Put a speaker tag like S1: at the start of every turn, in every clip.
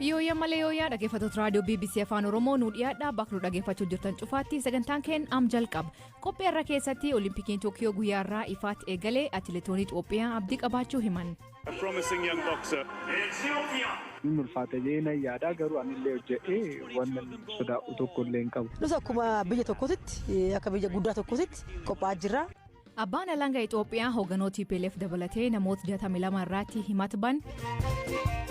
S1: Yooyyaa malee yooyyaa dhaggeeffattoota raadiyoo BBC Afaan Oromoo nu dhiyaadhaa bakka nu dhaggeeffachuu jirtan cufaatti sagantaan keenya am jalqaba. Qophii irra keessatti Olimpikiin Tookiyoo guyyaa irraa ifaatti eegalee atileetoonni Itoophiyaa abdii qabaachuu himan. A promising
S2: young boxer. Hin ulfaata jedhee nan yaada garuu anillee hojjedhee wanan sodaadhu tokkollee hin qabu. Nus akkuma biyya
S3: tokkootitti akka biyya guddaa tokkootitti qophaa'aa jirra. Abbaan Alanga
S1: Itoophiyaa hogganoo TPLF dabalatee namoota 62 irratti himata ban.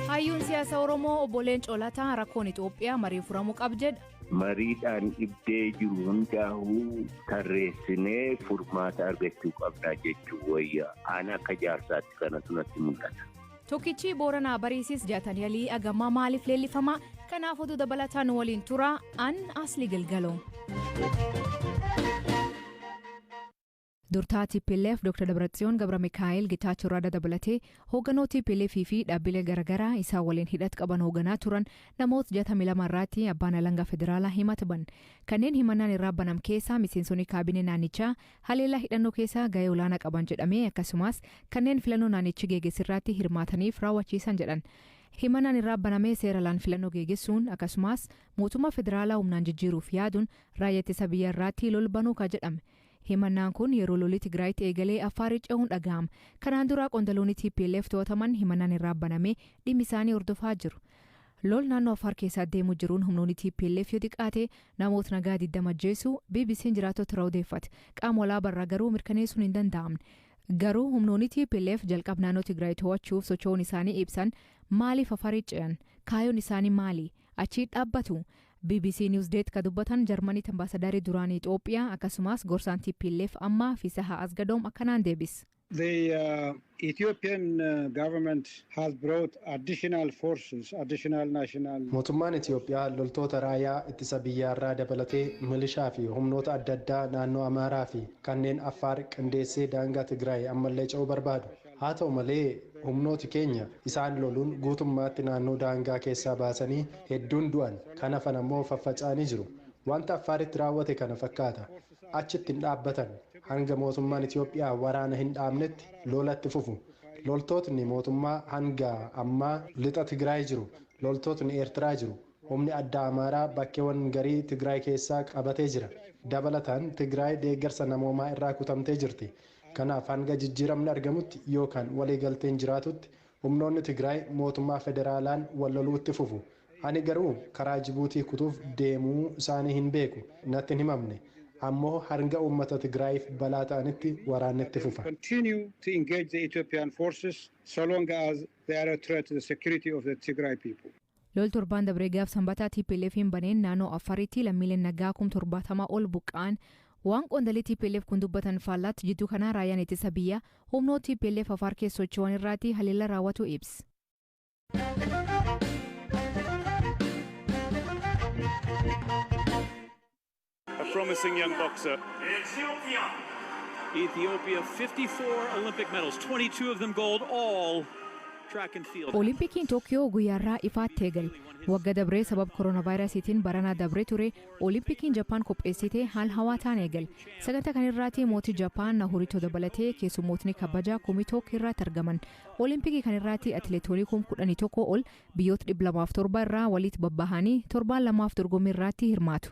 S1: Hayyuun siyaasa Oromoo obbo Leencoo Lataa rakkoon Itoophiyaa marii furamuu qab jedha. Mariidhaan
S4: dhibdee jiru hundaa'uu tarreessinee furmaata argachuu qabnaa jechuu wayya. Aan akka jaarsaatti kanatu natti mul'ata. Tokkichii Booranaa
S1: Bariisis jatan yalii agammaa maaliif leellifamaa? Kanaaf oduu dabalataa nu waliin turaa an Asli Gilgaloo. Durtaa tplf Dr Dabratsiyoon Gabramikaa'eel Getaachoo Rada dabalatee hooganoo tplf fi dhaabbilee garagaraa isaan waliin hidhat qaban hooganaa turan namoot 62 irraatti abbaan alangaa federaalaa himat ban. Kanneen himannaan irraa banam keessaa miseensonii kaabinee naannichaa haleellaa hidhannoo keessaa gahee olaanaa qaban jedhamee akkasumaas kanneen filannoo naannichi geeges irraatti hirmaataniif raawwachiisan jedhan. Himannaan irraa banamee seera alaan filannoo geegessuun akkasumaas mootummaa federaalaa humnaan jijjiiruuf yaaduun raayya ittisa biyya irraatti lol banuu ka jedhame. Himannaan kun yeroo lolli Tigraayitti eegalee Affaaritti ce'uun dhagahama. Kanaan dura qondaloonni tplf to'ataman himannaan irraa banamee dhimmi isaanii hordofaa jiru. Lol naannoo Affaar keessa addeemu jiruun humnoonni tplf yoo xiqqaate namoot nagaa 20 ajjeesuu BBC'n jiraattota irraa odeeffate. Qaama walaabaa irraa garuu mirkaneessuun hin danda'amne. Garuu humnoonni tplf jalqab naannoo Tigraay to'achuuf socho'uun isaanii ibsan maaliif Affaaritti ce'an? Kaayoon isaanii maali? Achiit dhaabbatu? Bbc Newsdesk ka dubbatan Jarmanitti Ambaasadari duraanii Xoophiyaa akkasumaas gorsaan tplf ammaa Fisaha Asgadoom akkanaan deebis. The
S5: Ethiopian government has brought additional forces, additional national. Mootummaan Itiyoophiyaa
S6: loltoota raayaa ittisa biyyaarraa dabalatee milishaa fi humnoota adda addaa naannoo Amaaraa fi kanneen Affaar qindeessee daangaa Tigraay ammallee ce'uu barbaadu. Haa ta'u malee, humnooti keenya isaan loluun guutummaatti naannoo daangaa keessaa baasanii hedduun du'an, kan hafan ammoo faffaca'anii jiru. Wanta Affaaritti raawwate kana fakkaata. Achitti hin dhaabbatan. Hanga mootummaan Itoophiyaa waraana hin dhaabnetti lola itti fufu. Loltootni mootummaa hanga ammaa Lixa Tigraay jiru. Loltootni Eertiraa jiru. Humni addaa Amaaraa bakkeewan garii Tigraay keessaa qabatee jira. Dabalataan Tigraay deeggarsa namoomaa irraa kutamtee jirti. Kanaaf hanga jijjiiramni argamutti yookaan waliigalteen jiraatutti humnoonni Tigraay mootummaa federaalaan wal loluu itti fufu. Ani garuu karaa Jibuutii kutuuf deemuu isaanii hin beeku, natti hin himamne. Ammoo hanga uummata Tigraayiif balaa ta'anitti waraanni itti They will fufa. continue to engage
S5: the Ethiopian forces so long as they are a threat to the security of the Tigray people. Lol torbaan dabree
S1: gaaf Sambataa TPLFn baneen naanoo Affaaritti lammiileen nagaa kum 70 ol buqqa'an Waan qoondalii tplf kun dubbatan faallaatti jidduu kanaa Raayyaan Ittisa Biyyaa humnoot tplf Afaar keessa socho'an irraati haleellaa raawwatuu ibs.
S7: A promising young boxer. Ethiopia. Ethiopia 54 Olympic medals, 22 of them gold, all track and field. Olimpikiin Tookiyoo
S1: guyyaarraa ifaatti eegale. Wagga dabree sabab koronaavaayirasiitiin baranaa dabree ture Olimpikiin Jappaan qopheessite haal hawaataan eegale. Sagantaa kana irraatti mootii Jappaan Nahurito dabalatee keessummootni kabajaa kumii took irraatti argaman. Olimpikii kan irraatti atileetoonii kum kudhanii tokko ol biyyoota dhibba lamaaf torba irraa waliit babbahanii torbaan lamaaf dorgommii irraatti hirmaatu.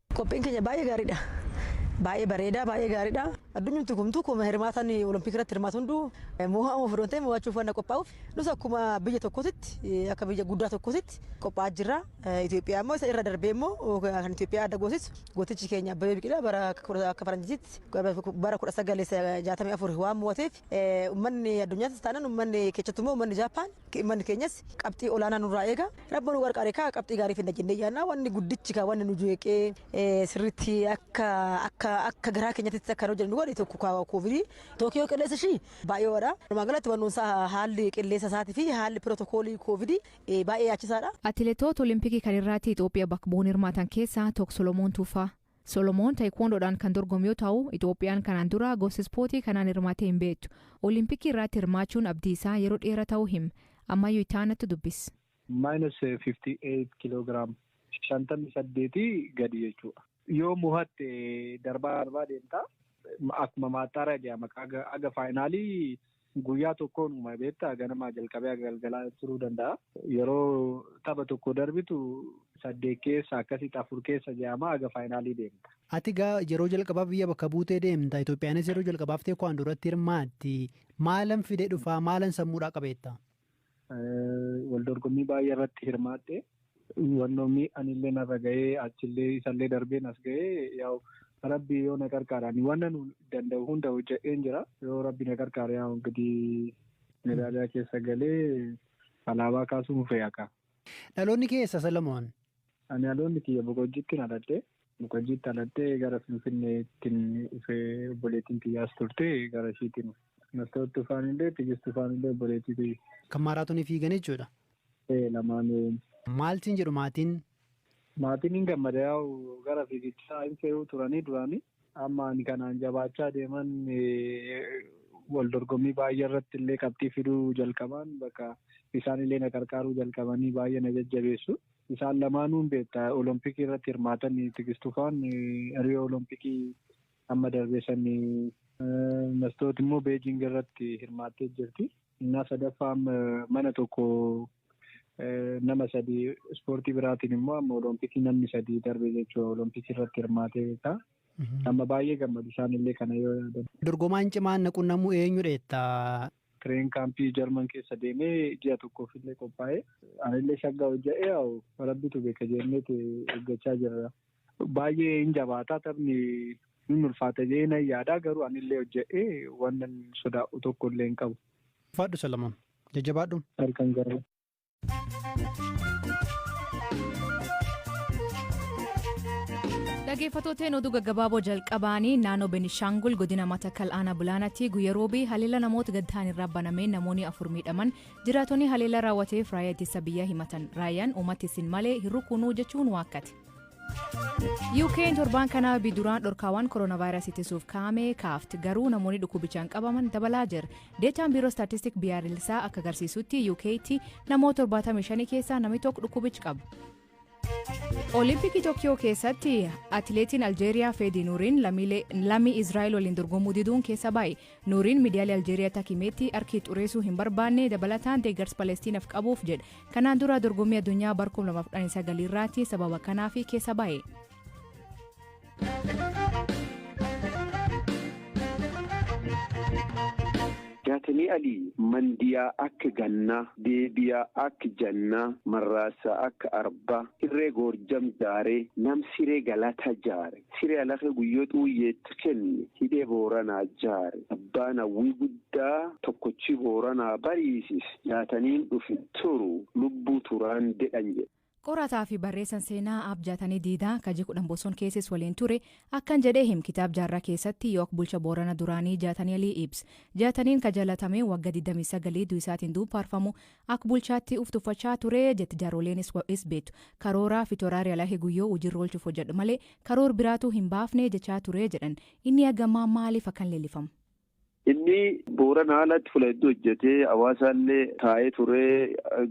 S1: Qophiin keenya baay'ee gaariidha.
S3: Baay'ee bareeda, baay'ee gaariidha. Addunyumti kumtu kuma hirmaataan Olompikii irratti hirmaatu hunduu mo'amuuf odoo hin ta'in mo'achuuf waan qophaa'uuf nus akkuma biyya tokkootitti akka biyya guddaa tokkootitti qophaa'aa jirra. Itoophiyaa immoo isa irra darbee immoo kan Itoophiyaa adda goosisu gootichi keenya Abbabee Biqilaa bara akka faranjiitti bara 1964 waan mo'ateef ummanni addunyaattis taanaan ummanni keessattuu immoo ummanni Jaappaan Immanni keenyas qabxii olaanaa nurraa eega. Rabbi nu qarqaare egaa qabxii gaarii fidna jennee yaadna. Wanni guddichi kaa wanni nu jeeqee sirriitti akka akka akka garaa keenyatti akka hojjennu nu godhe tokko kaa koovidii. Tookiyoo qilleensa ishii baay'ee ho'adha. Walumaa galatti wannoon isaa haalli qilleensa isaatii fi haalli pirootokoolii koovidii baay'ee yaachisaadha.
S1: Atileetoota Olimpikii kaleerraatti Itoophiya bakka bu'uun hirmaatan keessaa
S3: Took
S1: Solomoon Tuufaa. Solomoon Taekwoondoodhaan kan dorgomu yoo ta'u, Itoophiyaan kanaan dura gosa ispoortii kanaan hirmaattee hin beektu. Olimpikii irraatti hirmaachuun abdii isaa yeroo dheera ta'uu him. Ammayyuu itti aanattu dubbis. Minus 58
S2: kilogram, 58 gadi jechuudha. Yoo mohatte darbaa darbaa deemta. Akkuma maaxxaaraa jedhama. Haga faayinaalii Guyyaa tokkoon uuma beektaa ganamaa jalqabee haga galgalaa turuu danda'a. Yeroo tapha tokko darbitu saddeet keessa akkasitti afur keessa je'amaa haga faayinaalii deemta. Ati egaa yeroo
S8: jalqabaaf biyya bakka buutee deemta. Itoophiyaanis yeroo jalqabaaf teekwaandoo irratti hirmaatti. Maalan fidee dhufaa? Maalan sammuudhaa qabeetta? Waldorgommii
S2: baay'ee irratti hirmaadhe. Wannoo miidhanillee narra gahee achillee isallee darbee nas gahee yaa'u rabbi yoo na qarqaare ani wanna nu danda'u hunda hojjedheen jira. Yoo rabbi na qarqaare yaa'u ingidihi medaaliyaa keessa galee alaabaa kaasuun fe'a kaa. Dhaloonni kee
S8: eessa Salamoon? Ani dhaloonni
S2: kiyya Boqojjiittin dhaladhe. Mukajiitti dhalattee gara Finfinneettin dhufe obboleettiin tiyya as turte gara ishiitiin dhufe. Mastoot Tufaanillee Tigist Tufaanillee obboleettii tiyya. Kan maaraatonii
S8: fiigan jechuudha? Ee lamaanuu.
S2: Maal siin
S8: jedhu maatiin? Maatiin
S2: hin gammada yaa'u gara fiigichaa hin fe'uu turanii duraanii. Amma ani kanaan jabaachaa deeman wal dorgommii baay'ee irratti illee qabxii fiduu jalqabaan bakka isaan illee na qarqaaruu jalqabanii baay'ee na jajjabeessu. Isaan lamaanuu hin beekta. Olompikii irratti hirmaatan Tigistu faan Riyoo Olompikii amma darbee sani. Mastoot immoo Beejing irratti hirmaattee jirti. Innaa sadaffaa amma mana tokko nama sadi ispoortii biraatiin immoo amma olompikii namni sadi darbe jechuudha. Olompikii irratti hirmaatee beekta. Amma baay'ee gammadu isaanillee kana yoo yaadan. Dorgomaan cimaan na
S8: qunnamuu eenyudha jetta? Train camp
S2: German keessa deeme ji'a tokkoof illee qophaa'e. Anillee shaggaa hojja'ee yaa'u rabbitu beeka jennee eeggachaa jirra. Baay'ee hin jabaata taphni hin ulfaata jedhee nan yaada garuu anillee hojja'ee wannan sodaa'u tokko illee hin qabu. Ulfaadhu Salamoon.
S8: Jajjabaadhu. Halkan gaarii.
S1: Dhageeffatooteen oduu gaggabaaboo jalqabaanii naannoo Benishaangul godina Matakal aanaa Bulaanaatti guyya roobii haleela namoota gaddaan irraa banameen namoonni afur miidhaman jiraatonni haleela raawwateef raayyaa ittisa biyyaa himatan raayyaan uummatti isin malee hin rukunuu jechuun waakkate. UK'n torbaan kanaa biduraan dhorkaawwan koronaavaayirasii ittisuuf kaa'ame kaafte garuu namoonni dhukkubichaan qabaman dabalaa jira Deetaan Biiroo Istaatistiik Biyyaalessaa akka agarsiisutti UK tti namoota 75 keessaa namni tokko dhukkubichi qaba. Olimpikii Tokiyoo keessatti atileetiin Aljeeriyaa Feedii Nuuriin lammii Israa'el waliin dorgomuu diduun keessa baay'e. Nuuriin miidiyaalee Aljeeriyaa takimeetti harki xureessuu hin barbaanne dabalataan deeggarsa Palestiinaaf qabuuf jedha. Kanaan dura dorgommii addunyaa bara 2019 irraatti sababa kanaaf keessa baay'e.
S4: Jaatanii Alii mandiyaa akka gannaa, deebiyaa akka jannaa, marraasaa akka arbaa, hirree goorjam jaaree, nam siree galataa jaare, siree alakee guyyoo xuuyyeetti kenne, hidhee booranaa jaare, abbaan hawwii guddaa tokkochii booranaa bariisise, jaataniin dhufe turu lubbuu turaan dedhan jedhe. Qorataa fi barreessan
S1: seenaa Aab Jaatanii Diidaa ka ji 10 Boson keessis waliin ture akkan jedhee him kitaab jaarraa keessatti yook bulcha Boorana duraanii Jaatanii Alii Ibs. Jaataniin ka jalatamee wagga 29 duisaatiin duub faarfamu ak bulchaatti uf tuffachaa ture jetti jaarooleen is wa is beettu. Karooraa fi toraari Alahe Guyyoo hujirra olchuuf hojadhu malee karoor biraatuu hin baafne jechaa ture jedhan. Inni agammaa maaliif akkan leelifam? Inni
S4: Booranaa alatti fula hedduu hojjetee Hawaasaallee taa'ee ture.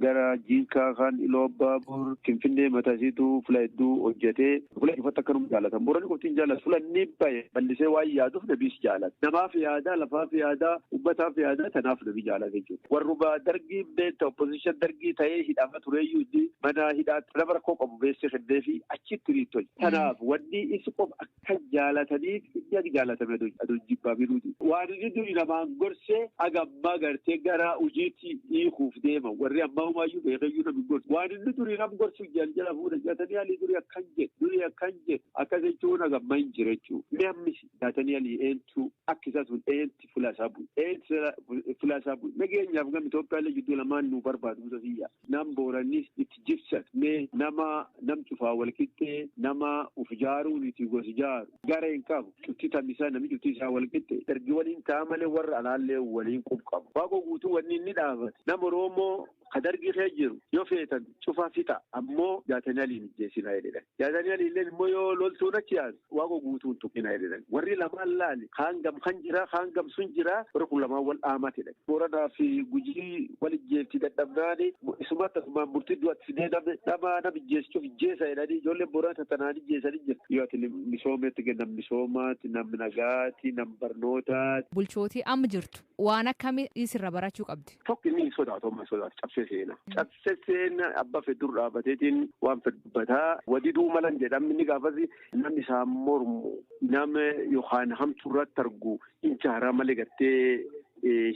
S4: Gara Jiinkaa kaan Iluu Abbaa Boor, Finfinnee mataa isiituu fula hedduu hojjetee fula cufatti akkanuma jaalatan. Booranni qofti hin jaalatu. Fula inni bahe ballisee waan yaaduuf namiis jaalata. Namaaf yaada, lafaaf yaada, ummataaf yaada tanaaf nami jaalata jechuudha. Warruma Dargiin beekta opposition Dargii ta'ee hidhama tureeyyuu inni mana hidhaatti nama rakkoo qabu beessee kenneefii achitti hiriitti hojjeta. Tanaaf wanni is qofa Kan jaalataniif inni akka jaalatame adoo jibbaaminuuti. Waan inni duri namaan gorsee aga ammaa gartee gara hujiitti hiikuuf deema. Warri ammaa humaayyuu beekeyyuu nam hin gorsu. Waan inni duri nam gorsu jal jala fuudha. Jaatanii alii duri akkan jedhe, duri akkan jedhe. Akkas jechuun aga ammaa hin jira jechuu. Mee ammis jaatanii alii eentuu akka isaa sun eenti fulaa isaa bu'e. Eenti fulaa isaa bu'e. Nageenyaaf gam Itoophiyaallee jidduu lamaan nu barbaadu Musa Siyyaa. Nam Boorannis itti jibsan mee nama nam cufaa wal qixxee nama uf jaaruu niti gosi jaaru garee hin qabu cufti tamisa nami cufti isaa wal qixxe ergi waliin taa malee warra alaallee waliin qub qabu waaqo guutuu wanni inni dhaamate nam oroomoo ka dargii kee jiru yoo feetan cufaa fixa ammoo jaatanii aliin ijjeesina jedhe. Yaa Dani'eliilleen immoo yoo loltuun achi yaatu, Waaqoo guutuu hin tuqinaa jedheen. Warri lamaan laali, kaan gam kan jira, kaan gam sun jira, warri kun lamaan wal dhaamat jedhan. Booranaa fi Gujii wal ijjeefti dadhabnaan, isuma tasumaan murtii du'atti fidee namni nama nam ijjeessu cuf ijjeesa jedhanii ijoolleen Booranaa tatanaan ijjeesan hin jirti. Yoo ati misoometti, nam misoomaati, nam nagaati, nam barnootaati. Bulchootii amma jirtu
S1: Waan akkami i sirra barachuu qabdi? Tokko inni hin sodaatu amma
S4: hin sodaatu cabsee seena. Cabse seena abba feddur dhaabateetiin waan fedhu dubbata. Wadiduu malan jedha inni gaafasi namni isaan mormu nama yookaan hamtuu irratti argu hin jaaraa malee gartee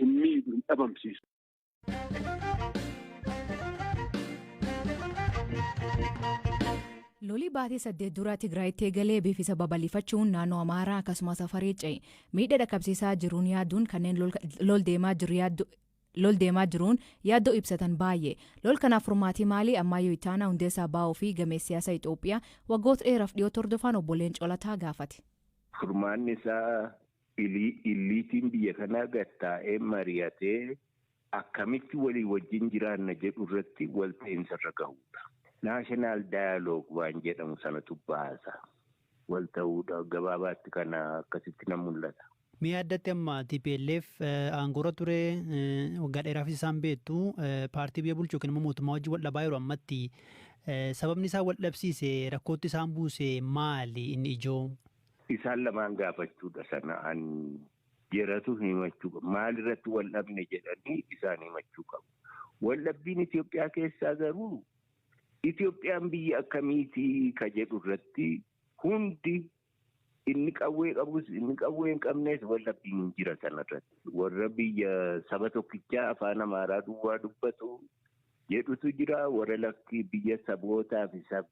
S4: hin miidhu hin dhabamsiisu.
S1: Lolii baatii saddeet dura Tigraayitti eegalee biifisa babal'ifachuun naannoo Amaaraa akkasumas Afarii ce'e. Miidha dhaqqabsiisaa jiruun yaaduun kanneen lol deemaa jiru yaaddu lol deemaa jiruun yaaddoo ibsatan baay'ee. Lol kanaaf furmaatii maalii Ammaayyo Itaanaa hundeessaa baa'oo fi gameessi siyaasa Itoophiyaa waggoota dheeraaf dhiyootti hordofaan obbo Leencoo Lataa gaafate. Furmaanni
S9: isaa Illiitiin biyya kanaa gad taa'ee mari'atee akkamitti walii wajjin jiraanna jedhu irratti walta'iinsa irra gahuudha. National Dialogue waan jedhamu sanatu baasa. Walta'uudha. Gabaabaatti kana akkasitti na mul'ata. Mee addatti amma
S8: tplf aangoorra ture waggaa dheeraafis isaan beektu paartii biyya bulchu yookiin immoo mootummaa wajjin wal dhabaa yeroo ammatti sababni isaan wal dhabsiise rakkootti isaan buuse maali inni ijoo? Isaan lamaan
S9: gaafachuudha sana an jeratu himachuu qabu. Maal irratti wal dhabne jedhanii isaan himachuu qabu. Wal dhabbiin Itoophiyaa keessaa garuu Itoophiyaan biyya akkamiitii ka jedhu irratti hundi inni qawwee qabus inni qawwee hin qabnes wal dhabbiin hin jira sana irratti. Warra biyya saba tokkichaa afaan Amaaraa duwwaa dubbatu jedhutu jira. Warra lakkii biyya sabootaa fi sab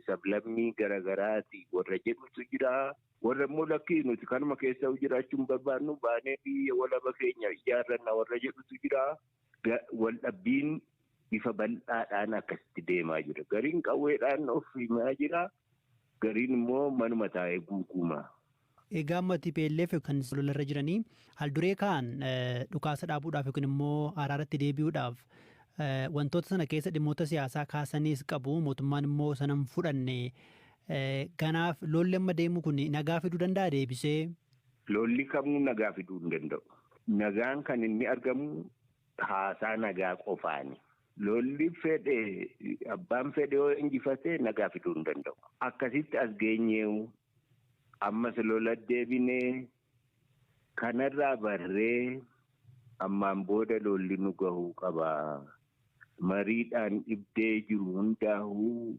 S9: sablammii gara garaati warra jedhutu jira. Warra immoo lakkii nuti kanuma keessa jiraachuu hin barbaannu baanee biyya walaba keenya ijaarranna warra jedhutu jira. Wal dhabbiin bifa bal'aadhaan akkasitti deemaa jira. Gariin qawweedhaan of himaa jira. Gariin immoo manuma taa'ee guuguuma. Egaa amma
S8: tplf kan lola irra jiranii haalduree kaa'an dhukaasa dhaabuudhaaf yookiin immoo araaratti deebi'uudhaaf wantoota sana keessa dhimmoota siyaasaa kaasaniis qabu mootummaan immoo sana hin fudhanne. Kanaaf lolli amma deemu kun nagaa fiduu danda'a deebisee? Lolli
S9: kamuu nagaa fiduu hin danda'u. Nagaan kan inni argamu haasaa nagaa qofaani. Lolli fedhe abbaan fedhe yoo injifate nagaa fiduu hin danda'u. Akkasitti as geenyeewu Ammas lola deebine. Kanarraa barree ammaan booda lolli nu gahuu qaba. Mariidhaan dhibdee jiru hundaahuu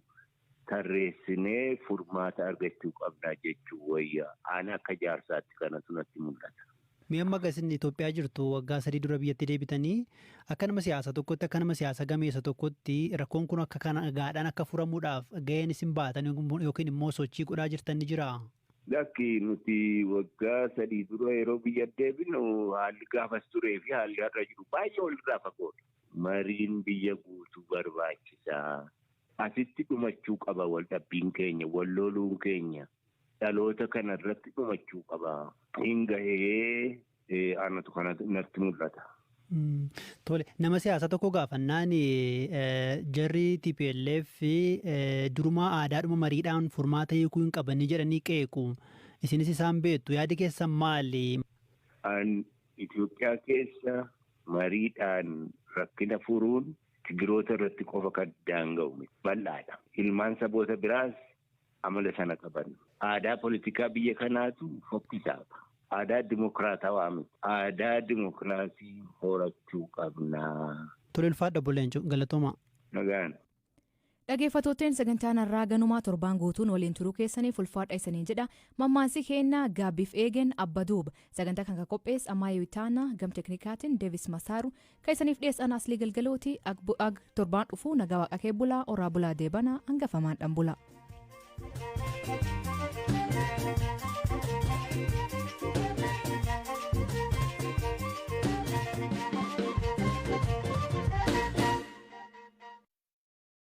S9: tarreessinee furmaata argachuu qabna jechuun wayya. An akka jaarsaatti kanatu natti mul'ata. Mee amma aga isin
S8: Itoophiyaa jirtu waggaa sadii dura biyyatti deebitanii akka nama siyaasa tokkotti akka nama siyaasa gameessa tokkotti rakkoon kun akka kana nagaadhaan akka furamuudhaaf ga'een isin baatan yookiin immoo sochii godhaa jirtan ni jiraa? Lakki nuti
S9: waggaa sadii dura yeroo biyya deebinu haalli gaafas turee fi haalli har'a jiru baay'ee walirraa fagoodha. Mariin biyya guutuu barbaachisaa. Asitti dhumachuu qaba wal dhabbiin keenya, wal loluun keenya. dhaloota kana irratti dhumachuu qaba. Hin gahee anatu kana natti mul'ata.
S8: Tole nama siyaasaa tokko gaafannaan jarri TPLF durumaa aadaadhuma mariidhaan furmaata hiikuu hin qabanii jedhanii qeequ. Isinis isaan beektu yaadi keessan maali? An Itoophiyaa
S9: keessa mariidhaan rakkina furuun Tigiroota irratti qofa kan daanga'u bal'aadha. Ilmaan saboota biraas amala sana qaban. Aadaa politikaa biyya kanaatu fokkisaadha. Aadaa dimokiraatawaa miti. Aadaa dimokiraasii horachuu qabna. Tole ulfaadhu Obbo
S8: Leencoo. Galatoomaa. Nagaan.
S9: Dhageeffattootteen
S1: sagantaan harraa ganumaa torbaan guutuu nu waliin turuu keessaniif ulfaadha isaniin jedha. Mammaansi keenna gaabbiif eegen abba duuba. Sagantaa kan ka qophees Amaayee Witaanaa, gam teknikaatin Devis Masaaru, Ka isaniif dhiyees ana asli galgalooti ag bu- ag torbaan dhufu nagaa waaqa kee bulaa oraa bulaa deebana hangafamaan dhan bulaa.